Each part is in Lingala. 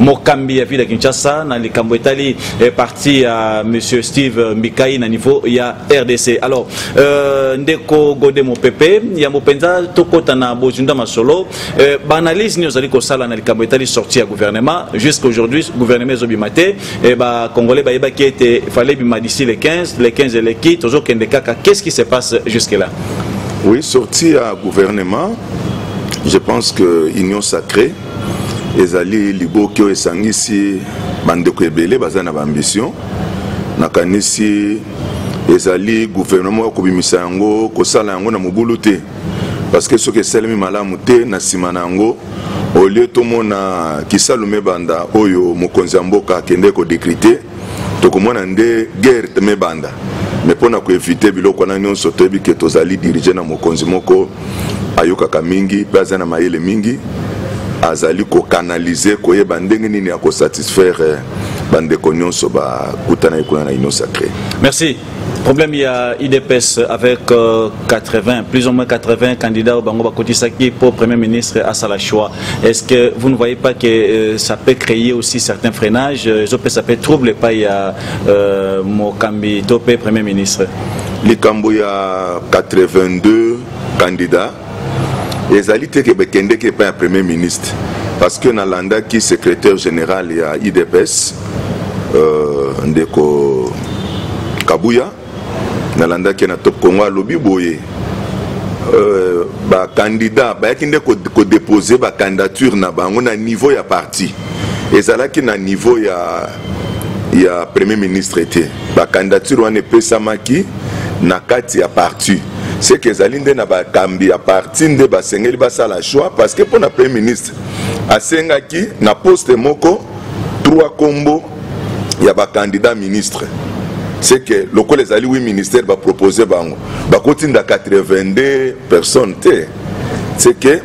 mokambi ya ville ya kinshasa na likambo etali eh, parti ya monsieur steve mbikai na niveau ya rdc alors euh, ndeko gode mopepe yambo mpenza tokɔta na bozinda masolo euh, baanalyse nini ozali kosala na likambo etali sorti ya gouvernement jusqu'à aujourd'hui gouvernement ezobima te eh, bacongolais bayebaki ete fale ebima d'ici le 15 le 15 eleki tozokende kaka qu'est ce qui se passe jusque là oui sorti ya gouvernement je pense que union sacrée ezali liboki oyo esangisi bandeko ebele baza na baambition nakanisi ezali guvernema ya kobimisa yango kosala yango na mobulu te parce que soki esalemi malamu te na nsima na yango olie tomona kisalume banda oyo mokonzi ya mboka akende kodekrite tokomona nde guerre te mebanda me mpo na koevite biloko wana nyonso toyebi ke tozali dirige na mokonzi moko ayokaka mingi mpe aza na mayele mingi azali kokanalize koyeba ndenge nini ya kosatisfaire eh, bandeko nyonso bakutanaki kuna na union sacré merci problème ya idps avec 80 euh, plus ou moins 80 candidats oyo bango bakotisaki mpo premier ministre asala choix est ce que vous ne voyez pas que euh, ça peut créer aussi certains freinages euh, ezopesa mpe trouble epai ya euh, mokambi to mpe premier ministre likambo ya 82 candidats ezali te ke bakendeki epai ya premier ministre parce que nalandaki secrétaire général ya idps euh, ndeko kabuya nalandaki na top congo alobi boye euh, bakandida bayaki nde kodepose ko bacandidature na bango na niveau ya parti ezalaki na niveau ya ya premier ministre te bacandidature wana epesamaki na kati ya parti seke ezali nde na bakambi ya parti nde basengeli basala choix parce que mpo na premier ministre asengaki na poste moko trois kombo ya bacandidat ministre c'est que lokola ezali wi ministère bapropose bango bakotinda 82 personnes te c'est que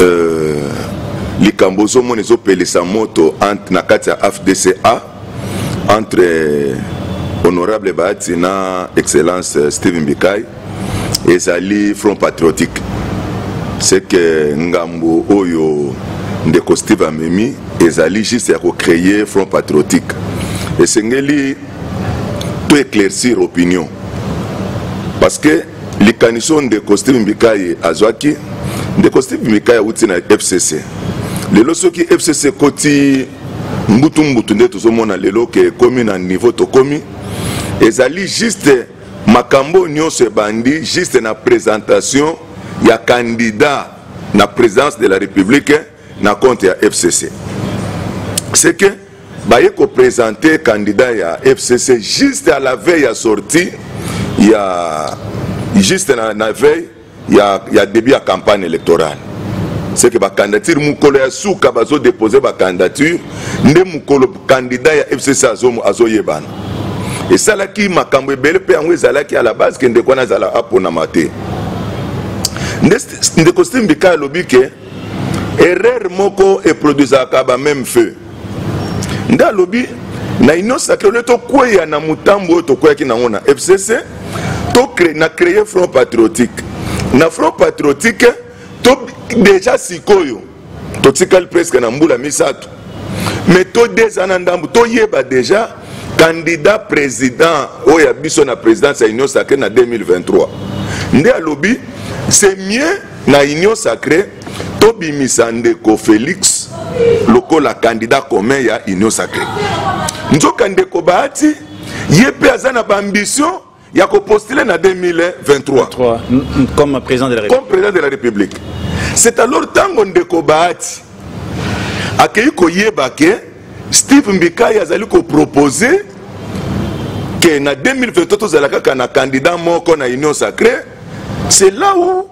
Euh, likambo ozomona ezopelisa moto na kati ya afdca entre euh, honorable bahati na excellence euh, steve mbikai ezali front patriotique ce que ngambo oyo ndeko steve amemi ezali juste ya kocreye front patriotique esengeli to éclaircir opinion parce que likanisi oyo ndeko steve mbikai azwaki ndeko steve mbikai awuti na fcc lelo soki fcc ekoti mbutumbutu nde tozomona lelo ke ekomi na niveau tokomi ezali juste makambo nyonso ebandi juste na présentation ya candidat na présidence de la république na compte ya fcc c'est que baye kopresente candidat ya fcc juste à la veille ya sortie ya juste na, na veille ya, ya début ya campagne électorale c'est que bacandidature mokolo ya suka bazodepose bacandidature nde mokolo candidat ya fcc azoyebana azo esalaki makambo ebele mpe yango ezalaki à la base ke ndeko wana azala aponama te ndeko steve mbika alobi ke erreur moko eproduisaka ba même feu nde alobi na union sacré ole tokweya na motambo oyo tokweyaki nango na fcc to na créer front patriotique na front patriotique to déjà sikoyo totikali presque na mbula misato mais to deux ans na ndambo toyeba déjà candidat président oyo ya biso na présidence ya union sacré na 2023 nde alobi c'est mieux na union sacree tobimisa ndeko félix lokola candidat commun ya union sacree nzoka ndeko bahati ye mpe aza na baambition ya kopostule na 2023 comme président de la république, président de la république. c'est alors ntango ndeko bahati akeyi koyeba ke steve mbikai azali kopropose ke na 2023 tozala kaka na candidat moko na union sacré c'est là où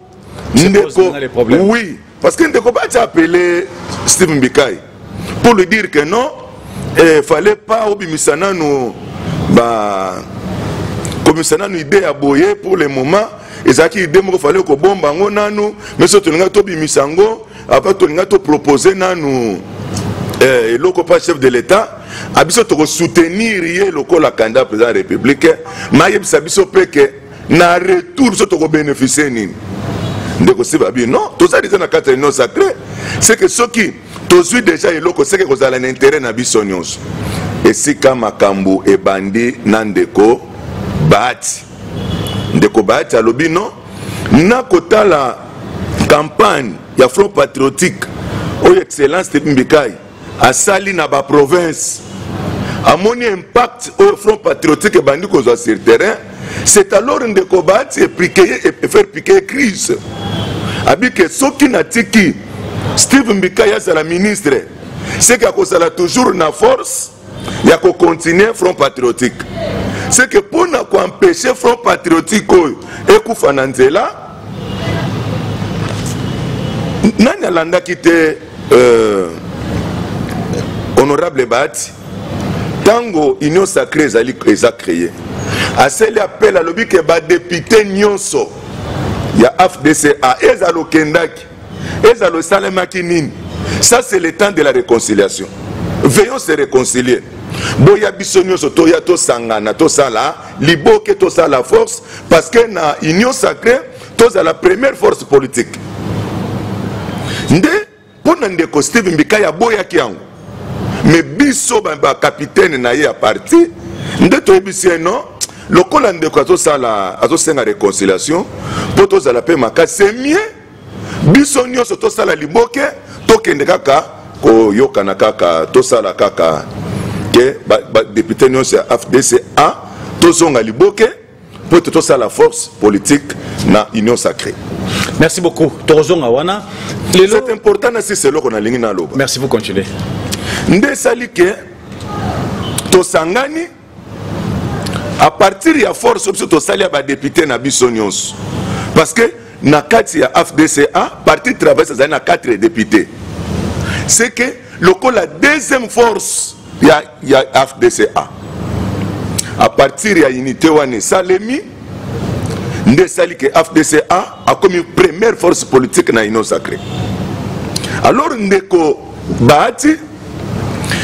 ndeko oui parce que ndeko bati appelé steve mbikai pour lui dire que non eh, fallait pas obimisa nanu ba komisa nanu idée ya boye pour le moment ezalaki idée moko fallait kobomba yango nanu mais soki tolingai tobimisa yango apa tolinga topropose nanu eh, eloko mpa chef de l'état a biso tokosoutenir ye lokola candidat président ya république ma ayebisa biso mpe ke na retour biso tokobénéficie nini ndeko siba bi non toza deja na kati ya union sacré c'est que soki tozwi deja eloko seke kozala na intérêt na biso nyonso esika makambo ebandi na ndeko bahati ndeko bahati alobi non na kotala campagne ya front patriotique oyo excellence tepi mbikai asali na baprovince amoni impact oyo front patriotique ebandi kozwa sur terrain c'est alors ndeko baati efaire piquer crise abike soki natiki steve mbikai azala ministre seke akozala toujours na force ya kocontinue front patriotique seke mpo na koempeshe front patriotique oyo ekufa na nzela nani alandaki te euh, honorable bahati ntango union sacré ezali eza créé aseli apel alobi ke badepute nyonso ya afdca ezala okendaki ezalo esalemaki nini ça c'est le temps de la réconciliation veillons se réconcilier boya biso nyonso toya tosangana tosala liboke tosala force parce que na union sacrée tozala première force politique nde mpo na ndeko steve mbikaya aboyaki yango me biso bakapitene na ye ya parti nde toyebisi ye non lokola ndeko azosenga réconciliation mpo tozala mpe makasi c'est mieux biso nyonso tosala liboke tokende kaka koyokana kaka tosala kaka ke badepute nyonso ya fdc a tozonga liboke mpo ete tosala force politique na union sacrée merci beaucoup tokozonga wana lelo c'est important na sisi eloko nalingi naloba merci vous continuer nde esali ke tosangani à partir ya force biso tosali ya badepute na biso nyonso parce que na kati ya afdca parti travailliste azali na 4 député c'est que lokola deuxième force ya, ya afdca à partir ya unité wana esalemi nde esali ke afdc a akomi première force politique na union sacré alors ndeko bahati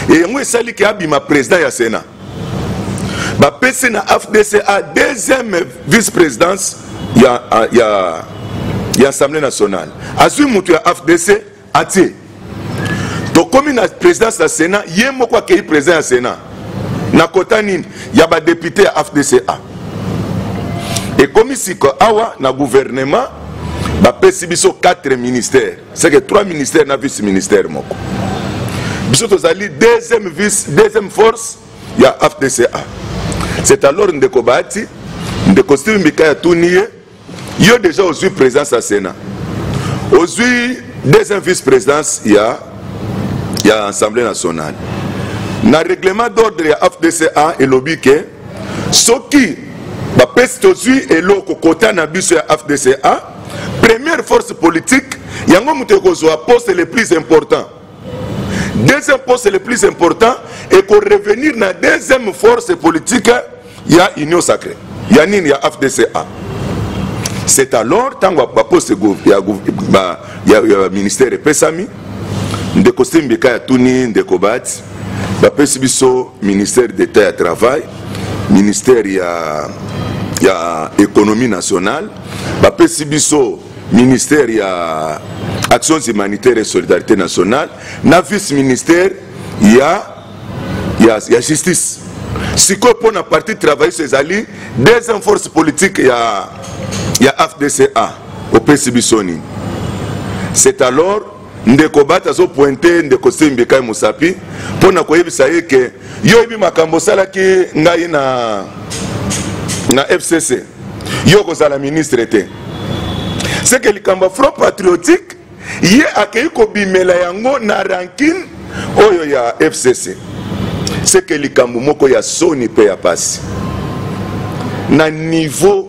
yango esali ke abima président ya sénat bapesi na afdc a deuxième vice présidence ya, ya, ya assemblée nationale azwi moto ya afdc atie tokomi na présidence ya sénat ye moko akei président ya sénat na kota nini ya badepute ya afdca ekomi siko awa na gouvernement bapesi biso 4 ministère seke 3 ministère na vice ministère moko biso tozali deuxième vice deuxième force ya afdca c'est alors ndeko bahati ndeko steve mbika ya tuni ye yo deja ozwi présidence ya sénat ozwi deuxième vice présidence ya ya assemblée nationale na règlement d'ordre ya fdca elobi ke soki bapesi tozwi eloko kota na biso ya fdca première force politique yango moto ekozwa poste le plus important deuxième poste le plus important eko revenir na deuxième force politique ya union sacrée ya nini ya fdca c'est alors ntango baposte ya, ba, ya, ya ministère epesami ndeko sembeka ya tuni ndeko bati bapesi biso ministère d'état ya travail ministère ya, ya économie nationale bapesi biso ministère ya actions humanitaires et solidarité nationale na vice ministère ya, ya, ya justice sikoyo mpo na parti travailliste ezali deuxième force politique ya, ya fdca opesi biso nini c'est alors ndeko bati azo pointe ndeko sembi kai mosapi mpo na koyebisa ye ke yo oyebi makambo osalaki ngai na na fcc yo okozala ministre te seke likambo ya front patriotique ye akei kobimela yango na rankine oyo ya fcc seke likambo moko ya soni mpe ya pasi na niveau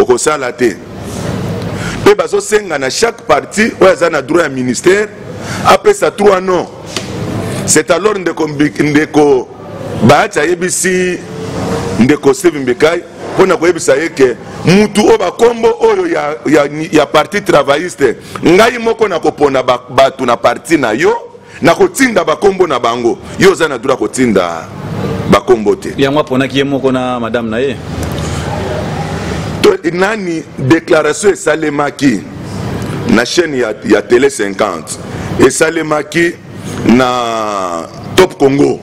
okosala te mpe bazosenga na chaque parti oyo aza na droit ya ministère apesa 3 non c'est alors ndeko, ndeko bahati ayebisi ndeko steve mbikai mpo na koyebisa ye ke mutu oyo bakombo oyo ya, ya, ya parti travailliste ngai moko nakopona bato na parti na yo nakotinda bakombo na bango yo oza na droit kotinda bakombo te yango aponaki ye moko na madame na ye nani déclaration esalemaki na chaîne ya, ya télé 50 esalemaki na top congo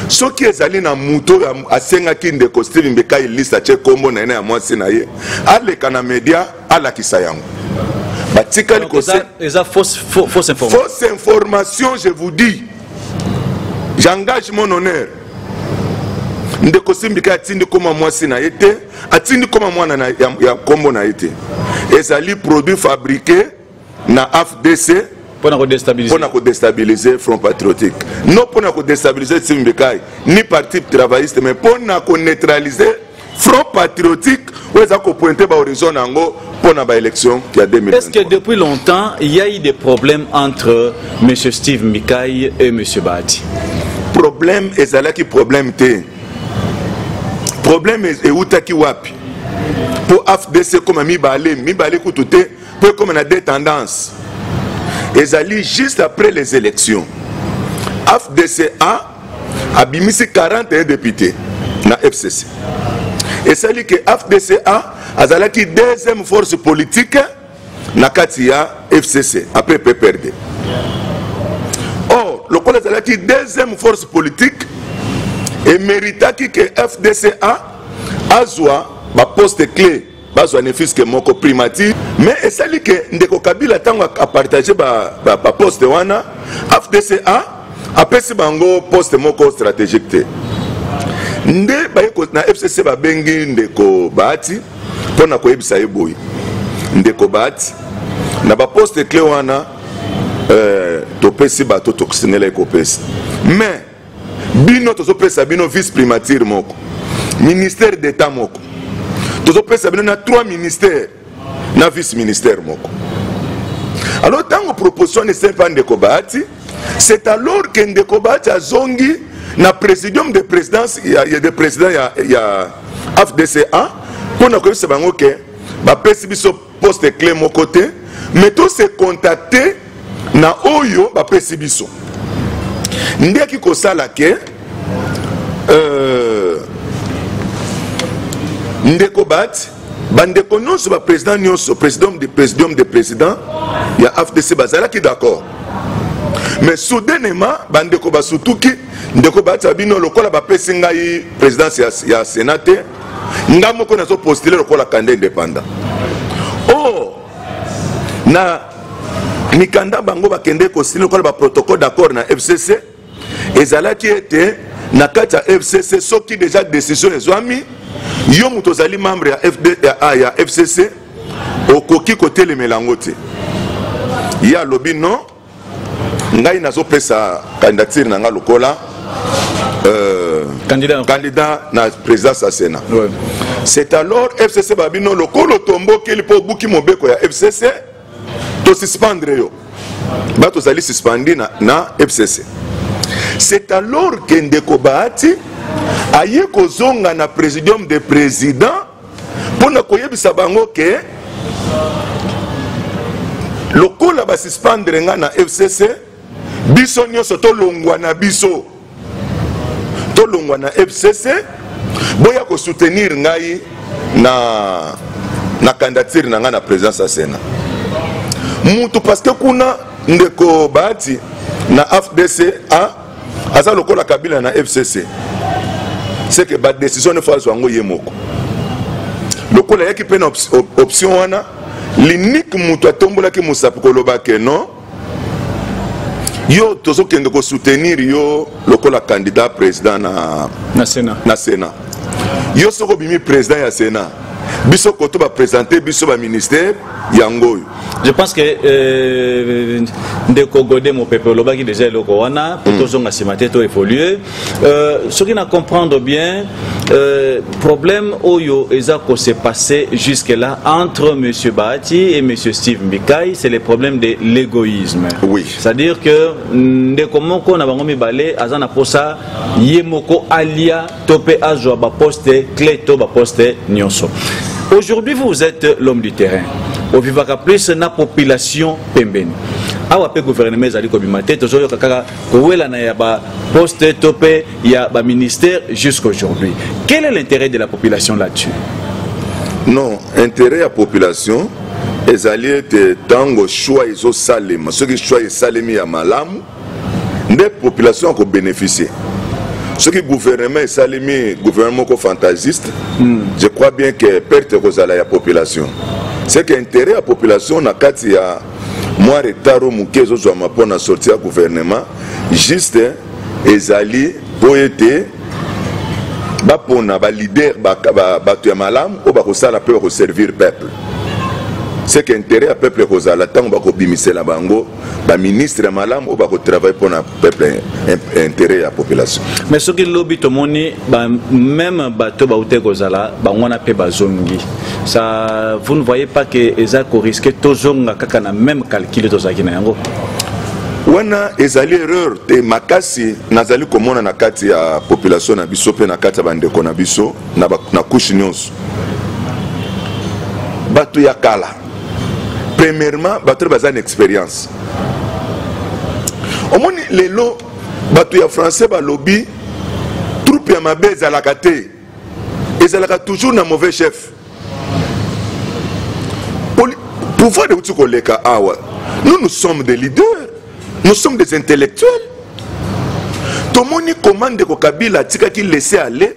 soki ezali na moto oyo asengaki ndeko steve mbekai liste atye nkombo na ye na ya mwasi na ye aleka na media alakisa yango batikali kose eza fausse fausse information fausse information je vous dis j'engage mon honneur ndeko simbika atindi koma mwasi na ye te atindi koma mwana ya nkombo na ye te ezali produit fabriqué na afdc mpo na kodestabilize front patriotique non mpo na kodestabilize timbekai ni parti travailliste mais mpo na koneutralize front patriotique oyo eza kopointe bahorizon na yango mpo na baélection ya 2000 est ce que depuis longtemps il y a eu des problèmes entre m steve mbikai et m bahati problème ezalaki problème te problème eutaki wapi mpo afdc ekoma mibale mibale kutu te mpo ekoma na deux tendances ezali juste après les élections afdca abimisi 41 député na fcc esali ke afdca azalaki deuxième force politique na kati ya fcc après pprd or lokola ezalaki deuxième force politique emeritaki ke fdca azwa baposte clé bazwa ne fiske moko primature mais esali ke ndeko kabila ntango apartage baposte ba, ba wana afdca apesi bango poste moko stratégique te nde baye na fcc babengi ndeko bahati mpo na koyebisa ye boye ndeko bahati na baposte cle wana euh, topesi bato tokosengelaki kopesa mais bino tozopesa bino vice primature moko ministère d'état moko tozopesa bino na trois ministères na vice ministère moko alors ntango proposition wana esali mpa ndeko bahati c'est alors ke ndeko bahati azongi na présidium de présidence ya, ya de président ya, ya afdca mpo na koyebisa bango ke bapesi biso poste cle moko te mais to se contacte na oyo bapesi biso nde eki kosala ke euh, ndeko bat bandeko nyonso baprésident nyonso président de présidium de président ya afdc bazalaki d'accord mais soudainement bandeko basutuki ndeko batia bino lokola bapesi ngai présidence ya, ya sénat te nga moko nazo postile lokola kanda independant o oh, na mikanda bango bakende kosili lokola baprotocole d'accord na fcc ezalaki ete na kati ya fcc soki deja décision ezwami yo moto ozali membre ya, FD, ya, ah, ya fcc okoki kotelemela yango te ye alobi non ngai nazopesa candidature na ngai lokola euh, candidat. candidat na présidence ya sénat ouais. c'est alors fcc babino lokola otombokeli mpo obuki mobeko ya fcc tosuspendre yo ba tozali suspendi na, na fcc c'est alors que ndeko bahati aye kozonga na présidium de président mpo na koyebisa bango ke lokola basuspendre ngai na fcc biso nyonso tolongwa na biso tolongwa na fcc boya kosoutenir ngai na na candidature na ngai na présidence ya sénat mutu parce que kuna ndeko bahati na afdc a aza lokola kabila na fcc seke badecision nefo azwa yango ye moko lokola ayaki mpe na option wana linike moto atombolaki mosapi koloba ke non yo tozokende kosoutenir yo lokola candidat président na, na sénat na sénat yo soki obimi président ya sénat biso koto bapresente biso baministère yango oyo je pense que euh, ndeko gode mopepe olobaki déjà eloko wana po mm. tozonga nsima te to évolue euh, soki na comprendre bien euh, problème oyo eza ko se passer jusque là entre monsieur bahati et monsieur steve mbikai c'est le problème de l'égoïsme oui. c'est à dire que ndeko moko na bango mibale aza na posa ye moko alia to pe azwa ba poste clé to ba poste nionso aujourd'hui vous êtes l'homme du terrain ovivaka plus na population pembeni awa mpe gouvernement ezali kobima te tozoyoka kaka kowelana ya baposte to mpe ya baministère jusqu'aujourd'hui quel est l'intérêt de la population là-dessus non intérêt ya population ezali ete ntango choix ezosalema soki choix esalemi ya malamu nde population ako bénéficier soki gouvernement esalemi gouvernement moko fantasiste mm. je crois bien que perte ekozala ya population c'est que intérêt ya population na kati ya mwa retard oyo moke ezozwama mpo na sorti ya gouvernement juste ezali mpo ete bapona balider bato ya malamu oyo bakosala mpe bakoservir peuple c'est que intérêt ya peuple ekozala ntango bakobimisela bango ba ministre ya malamu oyo bako travaille mpona peuple intérêt ya population mais soki lobi tomoni ba même bato baute kozala bango wana mpe bazongi ça vous ne voyez pas que eza koriske tozonga kaka na même calcul tozalaki na yango wana ezali erreur te makasi nazali komona na kati ya population na biso mpe na kati ya bandeko na biso na, na kushe nyonso bato ya kala premièrement bato baza na expérience omoni lelo bato ya français balobi troupe ya mabe ezalaka te ezalaka toujours na mauvais chef pouvoir euti koleka awa nous nous sommes des leaders nous sommes des intellectuels tomoni comment ndeko kabila atikaki laisser aller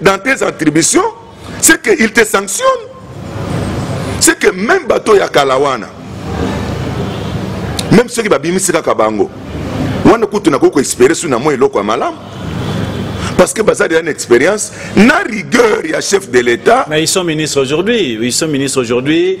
dans tes attributions c'est que il te sanctionne c'est que même bato ya kala wana même soki babimisi kaka bango wana kutu nakoki koespere soki na mwa eloko ya malamu parce que baza déjà une expérience na rigueur ya chef de l'état mais ils sont ministres aujourd'hui ils sont ministres aujourd'hui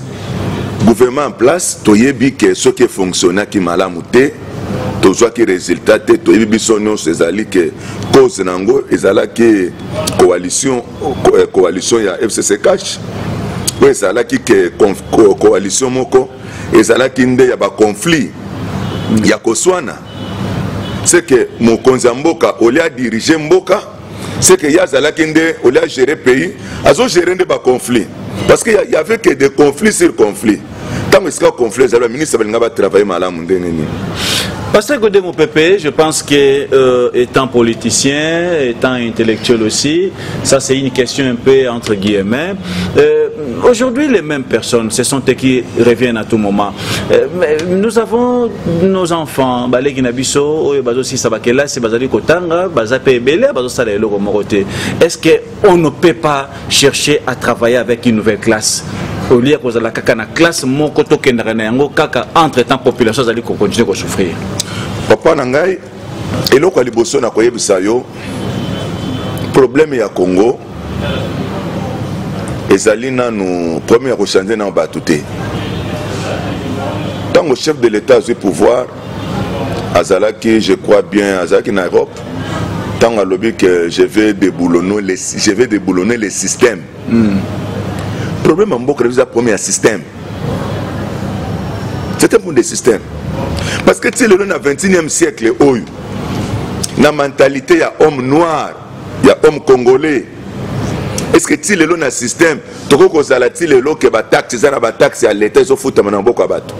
gouvernement en place toyebi ke soki efonctionnaki malamu te tozwaki résultat te toyebi biso nyonso ezali ke cause na yango ezalaki coalition eh, coalition ya fcc cash oyo ezalaki ke coalition moko ezalaki nde ya baconflit ya koswana seke mokonzi ya mboka olia dirige mboka c'est que ye azalaki nde olie agere pays azogere nde baconflit parce que y avait que des conflits sur conflit ntango esika conflit ezali baministre balinga batravaille malamu ndenge nini Pasteur Godé Moupépé, je pense que euh, étant politicien, étant intellectuel aussi, ça c'est une question un peu entre guillemets. Euh, Aujourd'hui, les mêmes personnes, ce sont eux qui reviennent à tout moment. Euh, nous avons nos enfants baleki na biso oyo bazosisa bakelasi bazali kotanga baza mpe ebele bazosala eloko moko te est ce que on ne peut pas chercher à travailler avec une nouvelle classe olie kozala kaka na classe moko tokendaka na yango kaka entre temps population azali kokontinue kosouffrir papa na ngai eloko ya liboso na koyebisa yo problème ya congo ezali nanu problème ya kochange nano bato te ntango chef de l'état azwi pouvoir azalaki je crois bien azalaki na europe ntango alobi que je vais déboulonner le, je vais déboulonner le système Hmm. Problème en mboka eza problème ya système. C'est un problème de système. Parce que tu sais lelo na 21e siècle oyo na mentalité ya homme noir, ya homme congolais. Est-ce que tu lelo na système tokoki kozala ti lelo ke bataxe eza na bataxe ya leta ezofutama na mboka ya bato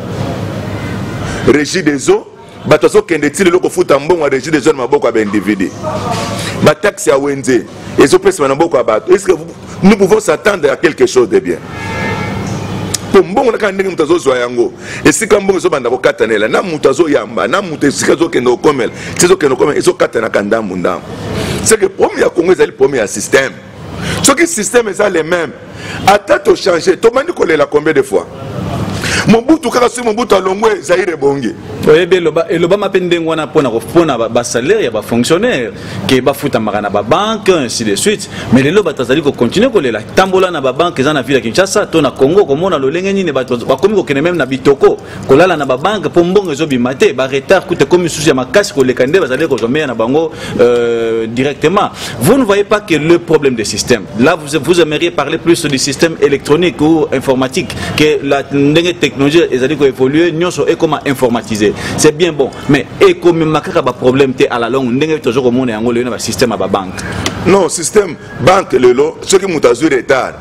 régie des eaux bato azokende ti lelo kofuta mbongo ya regi des jeunes maboko ya baindividu bataxe ya wenze ezopesama na maboko ya bato est ce que nous pouvons s'attendre à quelque chose de bien mpo mbongo na kaka ndenge moto azozwa yango esika mbongo ezobanda kokatanela na moto azoyamba na moto esika ezokende kokomela ti ezokende kokomela ezokatanaka ndambu ndambu seke problème ya congo ezali problème ya système soki système eza le même ata tochange tobandi kolela combien de fois mobutu kaka soki mobutu alongwe zaire ebongi oyebi elobama mpe ndenge wana mpona mpona basalaire ya bafonctionnaire ke bafutamaka na babanke ainsi de suite mais lelo bato bazali kocontinue kolela tambola na babanke eza na ville ya kinshasa to na congo komona lolenge nini bato bakomi kokende meme na bitoko kolala na babanke mpo mbongo ezobima te baretard kuta ekomi misusu ya makasi koleka nde bazali kozwa meya na bango euh, directement vous ne voyez pas que le problème de système là vous, vous aimeriez parler plus du système électronique ou informatique que la ndenge technologie ezali koévoluer nyonso ekoma informatisé c'est bien bon mais ekomema kaka baproblème te à la longue ndenge tozo komona yango lelo na basystème ya babanke non système banque lelo soki moto azwi retard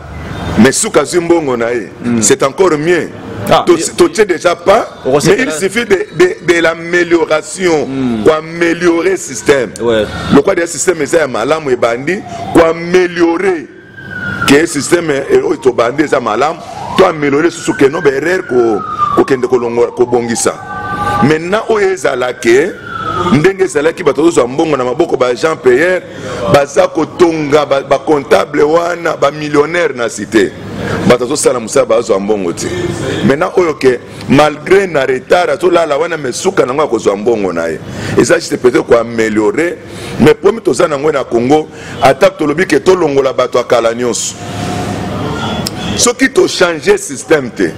mais suka azwi mbongo na ye hmm. c'est encore mieux ah, totie déjà pas mais il suffit de, de, de l'amélioration mm. koaméliorer système ouais. lokwa deya système eza ya malamu ebandi koaméliorer ke système eh, oyo tobandi eza malamu to améliorer susu ke no baerreur kokende kobongisa maintenant oyo ezala ke ndenge ezalaki bato tozozwa mbongo na maboko ba jean pierre baza kotonga bacomptable ba wana bamillionnaire na cité bato azosala mosala bazwa mbongo te maintenant oyo ke malgré na retard azolala wana me suka nango akozwa mbongo na ye eza juste peut-être koameliore mais problème toza nango na congo ata tolobi ke tolongola bato ya kala nyonso soki tochange système te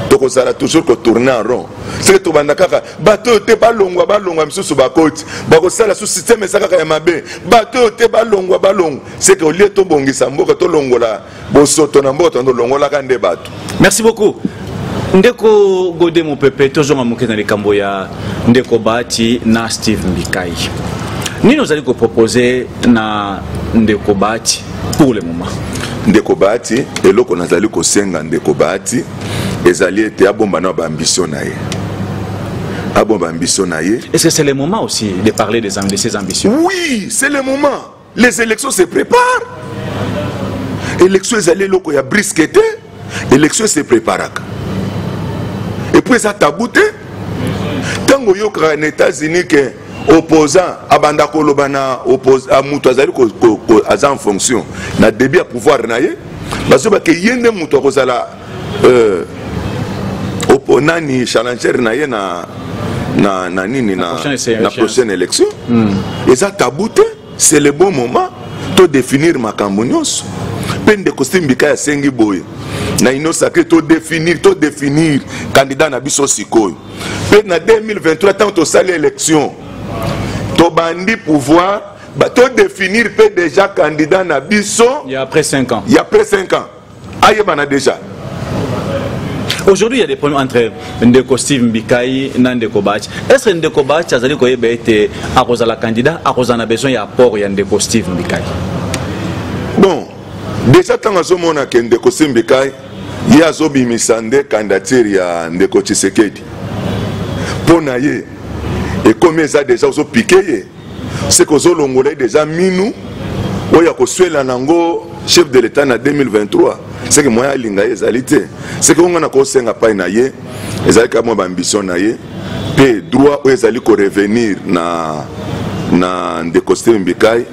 tokozala toujours kotourne en rond soki tobanda kaka bato oyo te balongwa balongwa misusu bakoti bakosala su systeme eza kaka ya mabe bato oyo te balongwa balongwa seke olie tobongisa mboka tolongola bosoto na mboka tondo longolaka nde bato merci beaucoup ndeko gode mopepe tozonga moke na likambo ya ndeko bahati na steve mbikai nini ozali kopropose na ndeko bahati pour le moment ndeko bahati eloko nazali kosenga ndeko bahati ezali ete abomba na baambition na ye abomba ambition na ye est-ce que c'est le moment aussi de parler des, de ses ambitions oui c'est le moment les élections se préparent élection ezali eloko ya briske te élection se préparaka epuis eza tabu te ntango oyokaka na états-unis ke opposant abanda koloba na ah, moto azali aza en fonction na début ya pouvoir na ye bazobake ye nde moto akozala euh, nani challenger na ye na, na, na nini na, na prochaine élection mm. eza tabu te c'est le bon moment to définir makambo nyonso mpe ndeko simbika yasengi boye na ino sacre to définir to définir candidat na biso sikoyo mpe na 2023 ntango tosali élection tobandi pouvoir todefinir mpe déjà candidat na biso ya après 5 ans ya après 5 ans ayebana déjà aujourd'hui il y a des problèmes entre ndeko steve mbikai na ndeko bachi est ce que ndeko bachi azali koyeba ete akozala candidat akozala na besoin ya apport ya ndeko steve mbikai bon déjà ntango azomona ke ndeko steve mbikai ye azobimisa nde candidature ya ndeko tshisekedi mpo na ye ekomi eza deja ozopike ye seke ozolongola ye deja minu oyo ya koswela nango chef de l'etat na 2023 seke moyen alinga ye ezali te seke onga na kosenga pai na ye ezali kaka mwa baambition na ye mpe droit oyo ezali korevenir na, na ndeko steve mbikai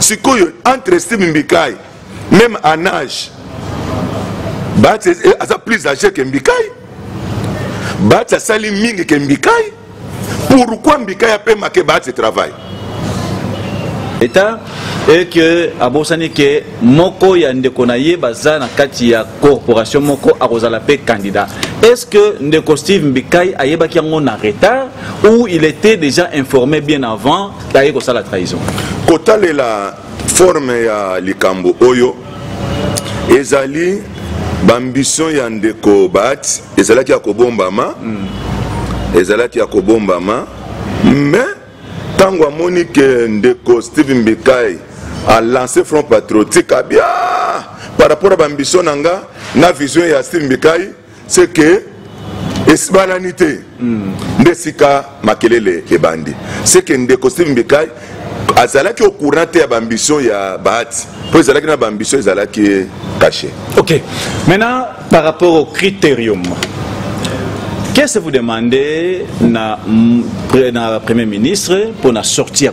sikoyo entre steve mbikai même en age bahati eh, aza plus age ke mbikai bahati asali mingi ke mbikai pourquoi mbikai apemake bahati travail leta et que abosani ke moko ya ndeko na ye baza na kati ya corporation moko akozala mpe candidat est ce que ndeko steve mbikai ayebaki yango na retard ou il était déjà informé bien avant aye kosala trahison kotalela forme ya likambo oyo ezali baambition ya ndeko baati ezalaki ya kobombama mm. ezalaki ya kobombama mais ntango amoni ke ndeko steve mbikai alance front patriotique abia par rapport ya baambition na nga na vision ya steve mbikai c'est que esibalani te mm. nde sika makelele ebandi c'est que ndeko steve mbikai azalaki au courant te ya baambition ya bahati mpo ezalaki na baambition ezalaki caché ok maintenant par rapport au critérium qu'est ce que vous demandez na, na premier ministre mpo na sortie ya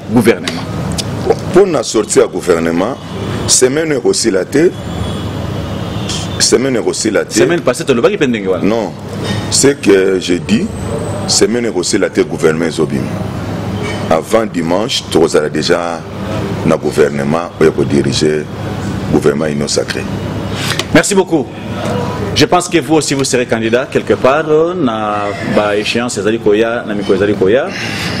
gouvernement mpo na sorti ya gouvernement semaine ekosila te semaine ekosila te semaine passée tolobaki mpe ndenge wana non ce que je dis semaine ekosila te gouvernement ezobima avant dimanche tokozala déjà na gouvernement oyo ekodirige gouvernement union sacré merci beaucoup je pense que vous aussi vous serez candidat quelque part euh, na ba échéance ezali koya na mikolo ezali koya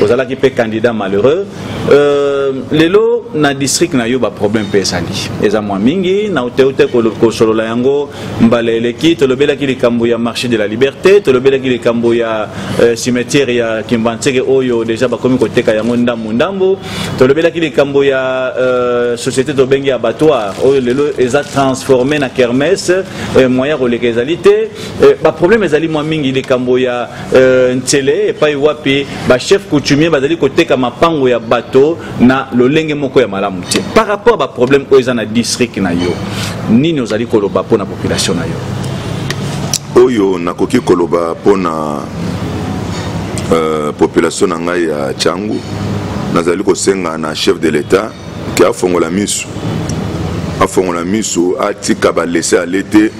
ozalaki mpe candidat malheureux euh, lelo na district na yo baproblème mpe ezali eza mwa mingi na uteute kosolola yango mbala eleki tolobelaki likambo ya marché de la liberté tolobelaki likambo ya euh, cimetière ya kimbanseke oyo deja bakomi koteka yango ndambo ndambo tolobelaki likambo ya euh, société tobengi abattoir oyo lelo eza transformé na kermesse euh, moyen ya koleka ezali te euh, baproblème ezali mwa mingi likambo ya euh, nsele epai wapi bachef coutumier bazali koteka mapango ya bato na lolenge moko ya malamu te par rapport ya baproblème oyo eza na district na yo nini ozali koloba mpo na population na yo oyo nakoki koloba mpo na euh, population na ngai ya changu nazali kosenga na chef de l'etat ke afongola misu afongola misu atika balese ale te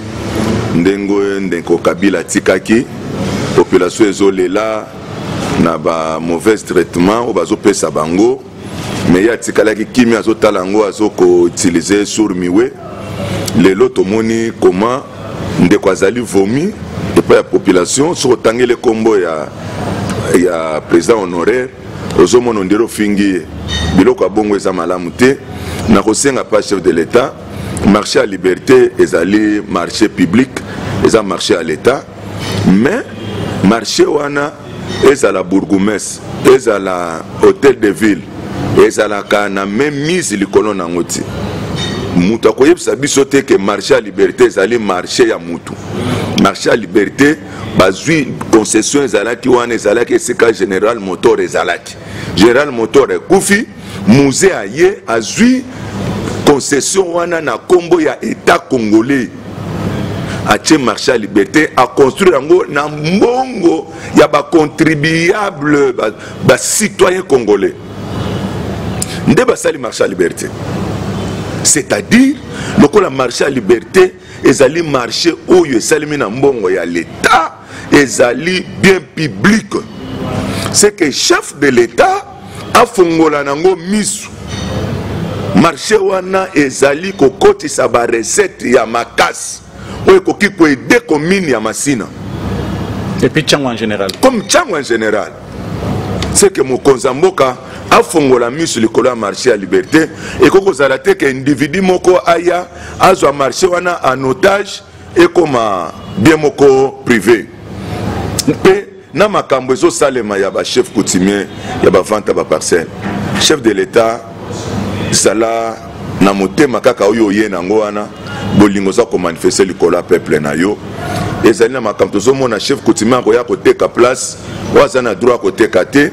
ndenge ndeko kabila atikaki population ezolela na ba mauvais traitement oyo bazopesa bango mais ye atikalaki kimia azotala yango azokoutilize sur miwe lelo tomoni koma ndeko azali vomi epai ya population soki otangeli nkombo ya, ya président honoraire ozomona ondire ofingi ye biloko ya bongo eza malamu te na kosenga pa chef de l'état marché ya liberté ezali marché public eza marché ya l'état mais marché wana ezala bourgumestre ezala hôtel de ville ezalaka na mise likolo na yango te moto akoyebisa biso te ke marché ya liberté ezali marché ya motu marché ya liberté bazwi concession ezalaki wana ezalaki esika général motor ezalaki général motor ekufi musee aye azwi concession wana na nkombo ya etat congolais atie marché ya liberté aconstruire yango na mbongo ya bacontribuable bacitoyen ba congolais nde basali marché ya liberté c'est-à-dire lokola marché ya liberté ezali marché oyo esalemi na mbongo ya leta ezali bien public c'est que chef de l'état afongola nango misu marché wana ezali kokotisa barecette ya makasi oyo ekoki koede commune ya masina et puis chango en général comme chango en général c'est que mokonzi ya mboka afongola miso likolo ya marché ya liberté ekoki kozala te ke individu moko aya azwa marché wana en otage ekoma bien moko privé mpe na makambo ezosalema ya ba chef coutumier ya ba vente ya ba parcelle chef de l'etat zala na motema kaka oyo oye na yango wana bolingo oza komanifeste likolo ya peuple na yo ezali na makambo tozomona chef coutumier akoya koteka place oyo aza na droit koteka te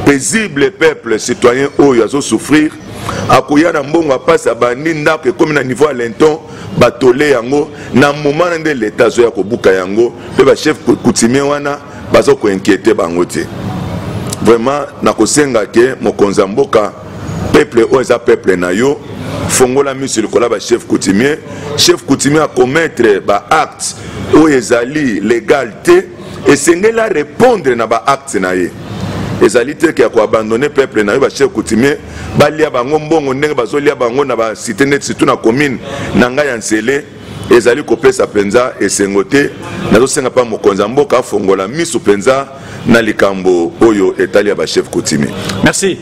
paisible peuple citoyen oyo azosouffrir akoya na mbongo ya mpasi abandi ndako ekomi na niveau ya lenton batole yango na moma na nde leta azoya kobuka yango mpe bachef coutumier wana baza koinquiete bango te vraiment nakosenga ke mokonzi ya mboka peuple oyo eza peuple na yo fongola miso likola bachef coutumier chef coutumier akomettre baacte oyo ezali legal te esengeli arepondre na baacte na ye ezali te ke ya koabandone peuple na yo bachef coutumier balia bango mbongo ndenge bazolia bango na basite neti surtout na commune na ngai ya nsele ezali kopesa mpenza esengo te nazosenga mpa mokonzi ya mboka afongola miso mpenza na likambo oyo etali ya bachef coutumier merci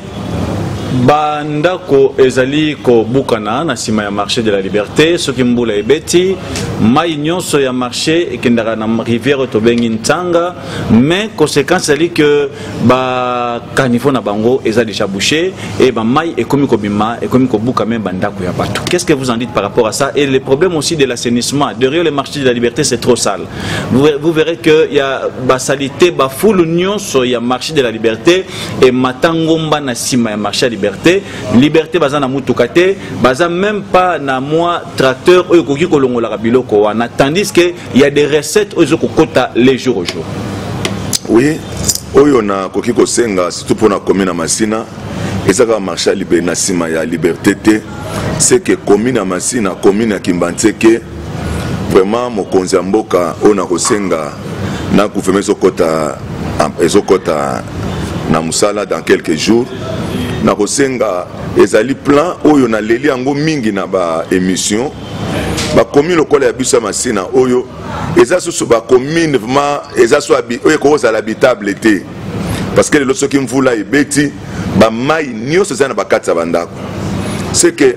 bandako ezali kobukana na nsima ya marché de la liberté soki mbula ebeti mai nyonso ya marché ekendaka na rivière oyo tobengi ntanga mais conséquence ezali ke bacaniveau na bango eza déjà bouché e bamai ekomi kobima ekomi kobuka meme bandako ya bato qu'est ce que vous en dites par rapport à ça et le problème aussi de l'assainissement derrière le marché de la liberté c'est trop sale vous, vous verrez que ya basalite bafulu nyonso ya marché de la liberté emata ngomba na nsima ya marché ya liberté liberté baza na motuka te baza même pas na mwa tracteur oyo ekoki kolongolaka biloko wana tandis que ya des recettes oyo ezokokota les jour au jour oui oyo nakoki kosenga surtout mpo na komi na masina eza kaka marché ya na nsima ya liberté te seke komi na masina komi na kimbanseke vraiment mokonzi ya mboka oyo nakosenga na gouvernement ezokota ezokota na mosala dans quelques jours nakosenga ezali plan oyo naleli yango mingi na baémission bakomi lokola ya biso ya masina oyo eza susu bakomine vraimen eza so oyo ekozala habitable te parce que lelo soki mvula ebeti bamai nyonso eza na bakati ya bandako seke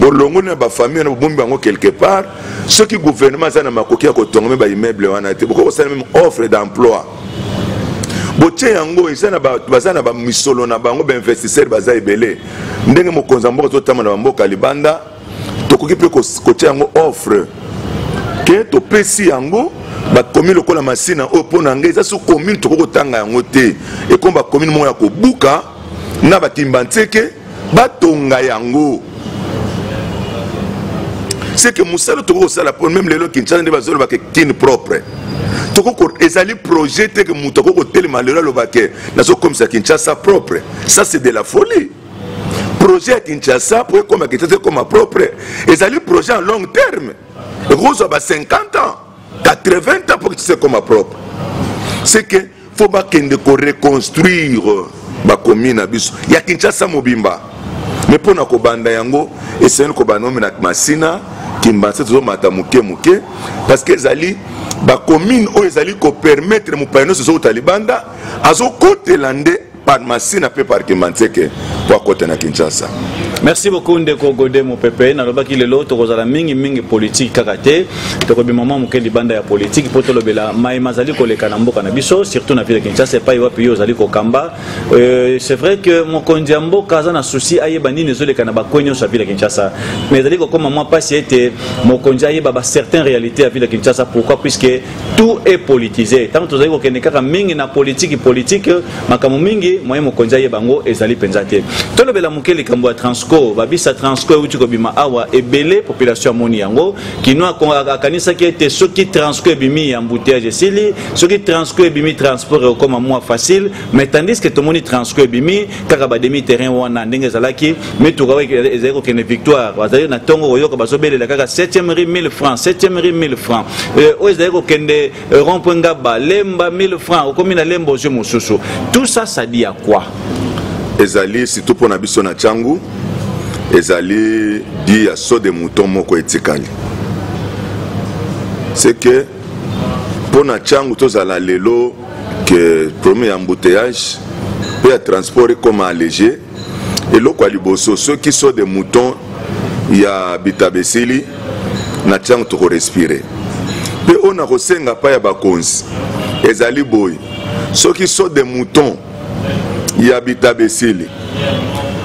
bolongoli na bafamille wana bobomi bango quelque part soki gouvernement aza na makoki ya kotonga me baimmeuble wana te bokoki kosala meme offre d'emploi botie yango eza na bato baza na bamisolo na bango bainvestisseur baza ebele ndenge mokonzi ya mboka totamba na bamboka libanda tokoki mpe kotia yango offre ke topesi yango bakomi lokola masina oyo mpo na ngai eza so commune tokoki kotanga yango te ekomi bakomine moko ya kobuka na batimba nseke batonga yango seke mosala tokoki kosala po meme lelo kinshasa nde bazoloba ke kin propre ezali projet te ke moto akoki kotelema lelo aloba ke nazokomisa kinshasa propre ça c'est de la folie projet ya kinshasa po ekoma kinshasa ekoma propre ezali projet en long terme ekozwa ba 50 ans 80 ans pour que tu se koma propre c'est que faut bakende koreconstruire bakomi na biso ya kinshasa mobimba me mpo na kobanda yango esengeli kobanda omi na masina kimbanse tozomata moke moke parce que ezali bacommune oyo ezali kopermettre mopaya nyonso ezokota libanda azokotela nde par masina mpe par kimanseke mpo akota na kinshasa merci beaucoup ndeko gode mopepe nalobaki lelo tokozala mingi mingi politike kaka te tokobima mwa moke libanda ya politike mpo tolobela mai mazali koleka na mboka na biso surtout na ville ya kinshasa epai wapi yo ozali kokamba euh, c'est vrai que mokonzi ya mboka aza na souci ayeba nini ezoleka na bakwe nyonso ya ville ya kinshasa mais ezali kokoma mwa mpasi ete mokonzi ayeba ba certain réalité ya ville ya kinshasa pourquoi puisque tout est politisé ntango tozali kokende kaka mingi na politiki politiki makambo mingi moye mokonzi ayeba yango ezali mpenza te tolobela moke likambo ya transco babisa transco euti kobima awa ebele population amoni yango kino akanisaki ete soki transco ebimi ya embouteillage esili soki transco ebimi transport ekokoma mwa facile mais tandis que tomoni transco ebimi kaka ba demi terrain wana ndenge ezalaki mituka oyo ezali kokende victoire bazali na ntongo koyoka bazobelela kaka 7e ri 1000 francs 7e ri 1000 francs euh, oyo ezali kokende euh, rond point ngaba lemba 1000 francs okomi na lemba ozwi mosusu tout ça ça dit à quoi ezali surtout mpo na biso na ntango ezali di ya so de mouton moko etikali c'est que mpo na ntango tozala lelo que problème ya embouteillage mpe ya transport ekoma allege eloko ya liboso soki so de mouton ya bitaba esili na ntango tokorespire mpe oyo na kosenga mpa ya bakonzi ezali boye soki so de mouton ya bitaba esili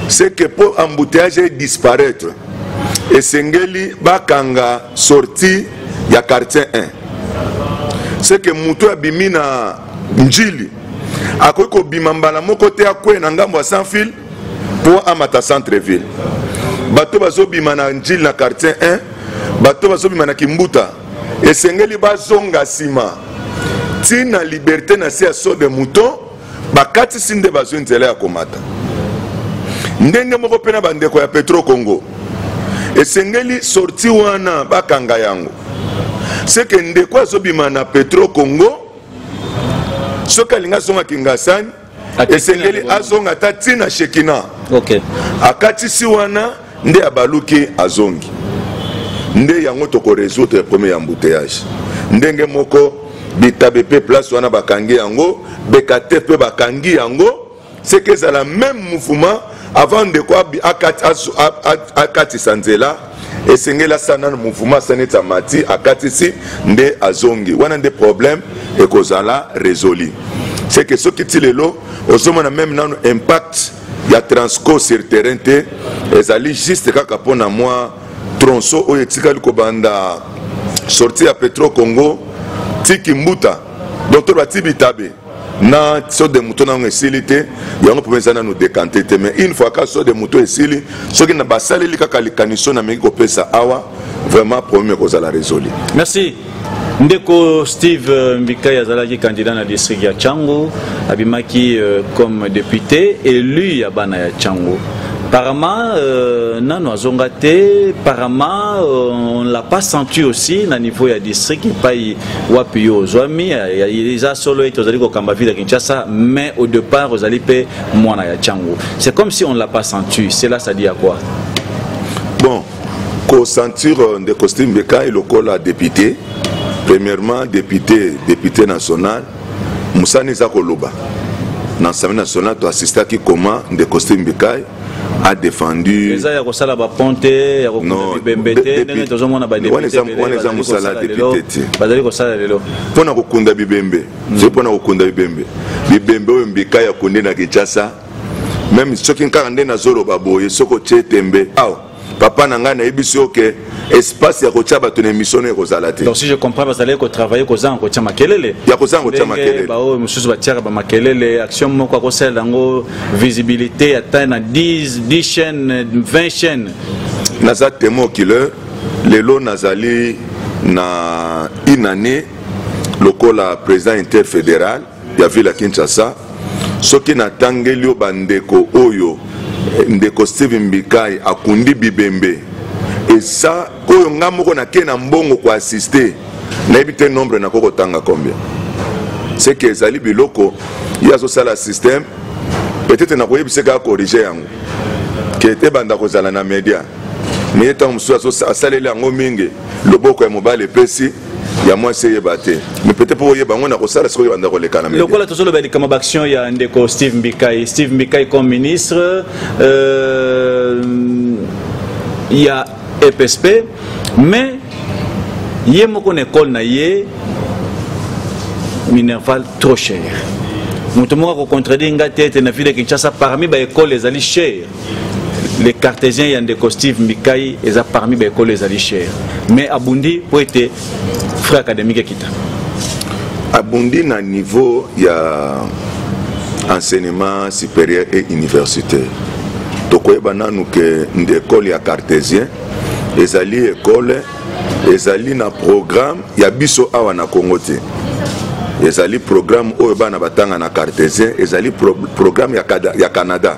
seke mpo embouteillage edisparaître esengeli bakanga sortie ya quartier 1 seke moto abimi na njili akoki kobima mbala moko te akwei na ngambo ya sans fil mpo amata centre ville bato bazobima na njili na quartier 1 bato bazobima na kimbuta esengeli bazonga nsima ntina liberte na se ya sode mouton bakatisi nde bazwi nzela ya komata ndenge moko mpe na bandeko ya petro congo esengeli sorti wana bakanga yango seke ndeko azobima na petro congo soki alingi azonga kingasani esengeli azonga ata ntina shekina okay. akatisi wana nde abaluki azongi nde yango toko résoudre premier embouteillage ndenge moko bitabe mpe place wana bakangi yango bekate mpe bakangi yango seke ezala meme mouvement avant ndeko akatisa nzela esengeli asana na mouvement asani ete amati akatisi nde azongi wana nde problème ekozala résolu seke soki ti lelo ozomona meme nano impact ya transco sur terrain te ezali juste kaka mpo na mwa tronso oyo etikali kobanda sorti ya petro congo tiki mbuta donc to bati bitabe na so de moto na yango esili te yango mpo eza nanu dekante te mais une fois ka so de moto esili soki na basaleli kaka likaniso na meki kopesa awa vraiment problème ekozala résolu merci ndeko steve euh, mbikai azalaki candidat na district ya chango abimaki euh, comme député élu ya bana ya chango Parama, euh, nano azonga te parama euh, on l'a pas senti aussi na niveau ya district epai wapi yo ozwami eza solo ete ozali kokamba ville ya kinshasa mais au départ ozali mpe mwana ya chango c'est comme si on l'a pas senti cela ça dit à quoi Ko sentir euh, ndeko Steve Bekai lokola député, premièrement député, député national, musani eza koloba. na assemblée nationale toassistaki koma ndeko steve bikai a défendu eza ya kosala bapont te ya kokunda bibembe te ndenge tozomona bawana eza mosala depute te bazali kosala lelo mpo na kokunda bibembe zoi mpo na kokunda bibembe bibembe oyo mbikai akunde na kinshasa meme soki kaka nde nazoloba boye soki otie tembe awa papa na ngai nayebisi yo ke espace ya kotya bato na emission nayo ekozala te donc si je comprends bazalaki kotravaille kozanga kotya makelele ya kozanga kotya makelele baoyo mosusu batiaka bamakelele action moko akosalela yango visibilité ata na 10 10 chaîne 20 chaîne naza temo killer lelo nazali na une année lokola président interfédéral ya ville ya kinshasa soki natangeli yo bandeko oyo eh, ndeko steve mbikai akundi bibembe eza oyo ngai moko nake na mbongo koassiste nayebi te nombre nako kotanga combien seke ezali biloko ye azosala système peut-être nakoyebisa kaka corrige yango ke te banda kozala na media meye ntango mosusu asaleli yango mingi loboko ya mobali epesi ya mwasi eyeba te mais peut-être mpo oyeba yango nakosala sikoyo banda koleka na lokola tozoloba likama baaction ya ndeko steve mbikai steve mbikai comme ministre euh, ya epsp mais ye moko na ekole na ye minerval trop cher moto moko akocontredire ngai te ete na ville ya kinshasa parmi baekole ezali cher le cartésien ya ndeko steve mbikai eza parmi baekolo ezali cher mais abundi mpo ete frais académique ekita abundi na niveau ya enseignement supérieur et universitaire tokoyeba nanu ke nde ekole ya cartésien ezali ekole ezali na programme ya biso awa na congo te ezali programme oyo bana batanga na cartésien ezali pro, programme ya, ya canada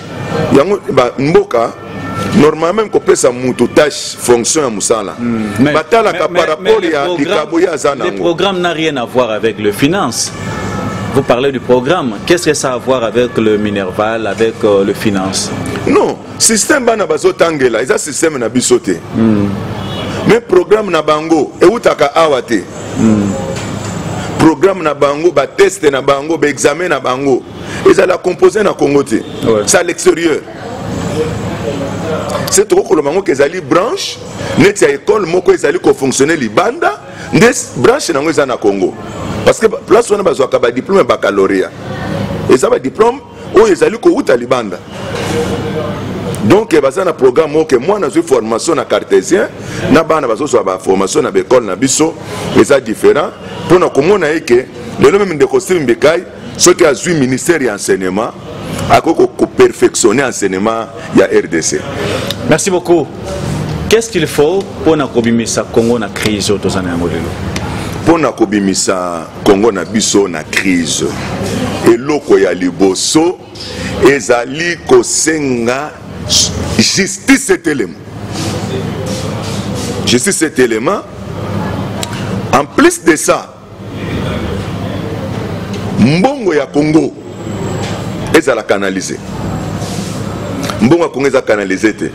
yango ba mboka normalement kopesa moto tâche fonction ya mosala hmm. batalaka par rapport ya likabo ye aza nango le programme n'a rien à voir avec le finance Vous parlez du programme. Qu'est-ce que ça a à voir avec le Minerval, avec euh, le finance Non, système bana bazo tangela, eza système na biso te. Mm. Mais programme na bango eutaka awa te. Mm. Programme na bango, ba test na bango, ba examen na bango. ezala compose na congo te ouais. c'est à l'extérieur se tokoki koloba yango ke ezali branche neti ya ekole moko ezali kofonctionne libanda nde branche na yango eza na congo parce que place wana bazwaka badiplome ya bacaloria eza badiplome oyo ezali kowuta libanda donc eh, baza na programme moko ke mwana azwi formation na cartésien na bana bazozwa baformation na baekole na biso eza différent mpo na komona ye ke lelo meme ndeko steve mbikai soki azwi ministère ya enseignement akoki koperfectionne enseignement ya rdc merci beaucoup qu'est ce qu'il faut mpo na kobimisa congo na crise oyo toza na yango lelo mpo na kobimisa congo na biso na crise eloko ya liboso ezali kosenga justice etelema justice etelema en plus de ça mbongo ya congo ezala canalise mbongo ya congo eza canalise te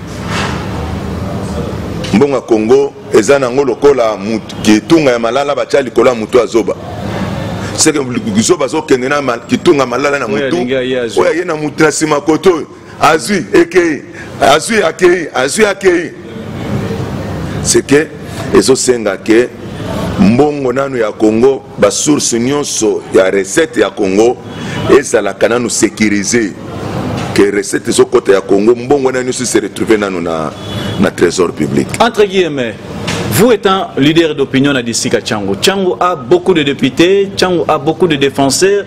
mbongo ya congo eza nango lokola kitunga ya malala batya likolo ya motu ya zoba seke zoba azokende na kitunga malala na motu oyo aye na motu na nsima koto oyo azwi ekei azwi akei azwi akei c'est que ezosenga ke mbongo nanu ya congo basource nyonso ya recette ya congo ezalaka nanu sécurise ke recette ezokɔta ya congo mbongo wana nyonso se retrouve nanu na, na trésor public entre guillemets Vous étant leader d'opinion à Dissika Tchango, Tchango a beaucoup de députés, Tchango a beaucoup de défenseurs,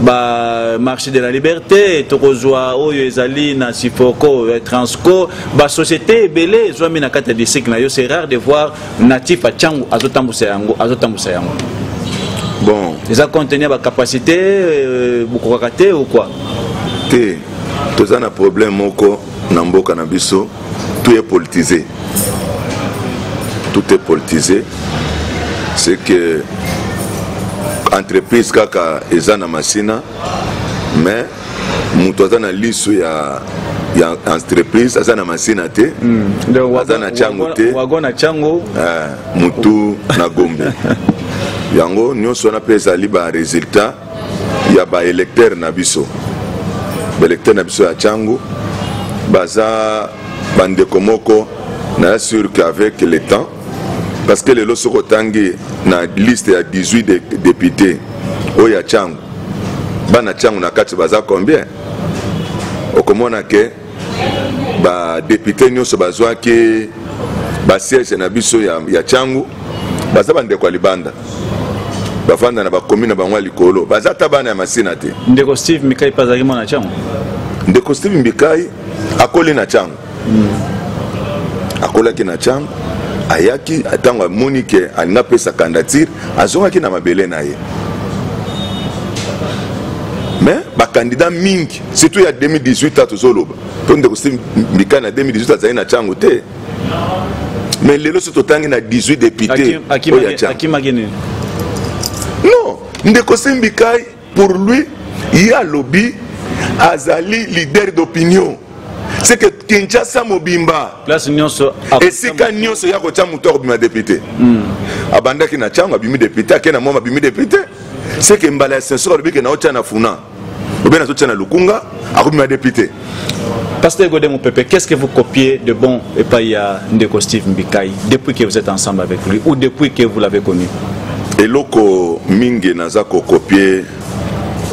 ba marché de la liberté tokozwa oyo ezali na sifoko ya transco basociété ebele ezwami na kati ya district na yo c'est rare de voir natif acango azotambusa yango azotambusa yango bon eza contenu ya bacapacité euh, bokokaka te ou quoi te toza na problème moko na mboka na biso tout est politisé tout est politisé c'est que entreprise kaka eza na masina mais moto aza na liso ya ya entreprise aza na masina te hmm. aza na chango te eh, motu na gombe yango nyonso wana mpe ezali baresultat ya ba électeurs na biso ba électeurs na biso ya Changu baza bandeko moko na sûr qu'avec le temps parce que lelo soki otangi na liste ya 18 de, député oyo ya Changu bana Changu na kati baza combien okomona ke ba député nyonso bazwaki ba siège na biso ya, ya changu baza bandeko ya libanda bafanda na bakomi na bango ya likolo baza ata bana ya masina te ndeko steve mikai mpe azalaki mwana changu ndeko steve mikai akoli na changu mm. akolaki na changu ayaki ntango amoni ke alingi apesa candidature azongaki na mabele na ye me bakandida mingi surtout ya 2018 a tozoloba mpo ndeko si mbika na 2018 azali na ntango te mais lelo so totangi na 18 député oyo ya ntango non ndeko simbikai pour lui ye alobi azali leader d'opinion c'est que kinshasa mobimba place nyonso esika nyonso ya kotya moto ya kobima depute hmm. abandaki na ntango abimi depute ake na mwa abimi depute c'est que mbala ya sensor alobi ke naotya na funa obena azotia na lukunga akobima depi te Pasteur Godem Pepe, qu'est-ce que vous copiez de bon et pas ya Ndeko Steve Mbikai depuis que vous êtes ensemble avec lui ou depuis que vous l'avez connu eloko mingi naza kokopie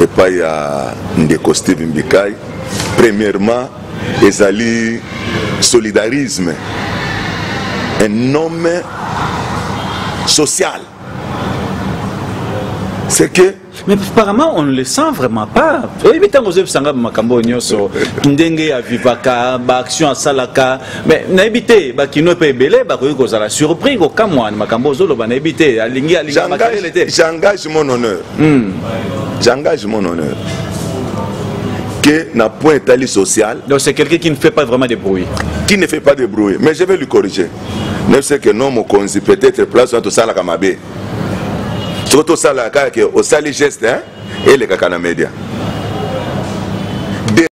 epai ya ndeko steve mbikai premièrement ezali solidarisme un homme social c'est que mais apparemment on ne le sent vraiment pas oyebi ntango ozoyebisa ngai makambo oyo nyonso ndenge avivaka baaction asalaka mais nayebi te bakino mpe ebele bakoki kozala surpris kokamwa na makambo ozoloba nayebi te alingi alinga makelele te j'engage mon honneur hmm. j'engage mon honneur que na point etali social donc c'est quelqu'un qui ne fait pas vraiment de bruit qui ne fait pas de bruit mais je vais lui corriger ne ce que non mokonzi peut-être place wana tosalaka mabe soki tosala kaka ke osali geste elekaka na media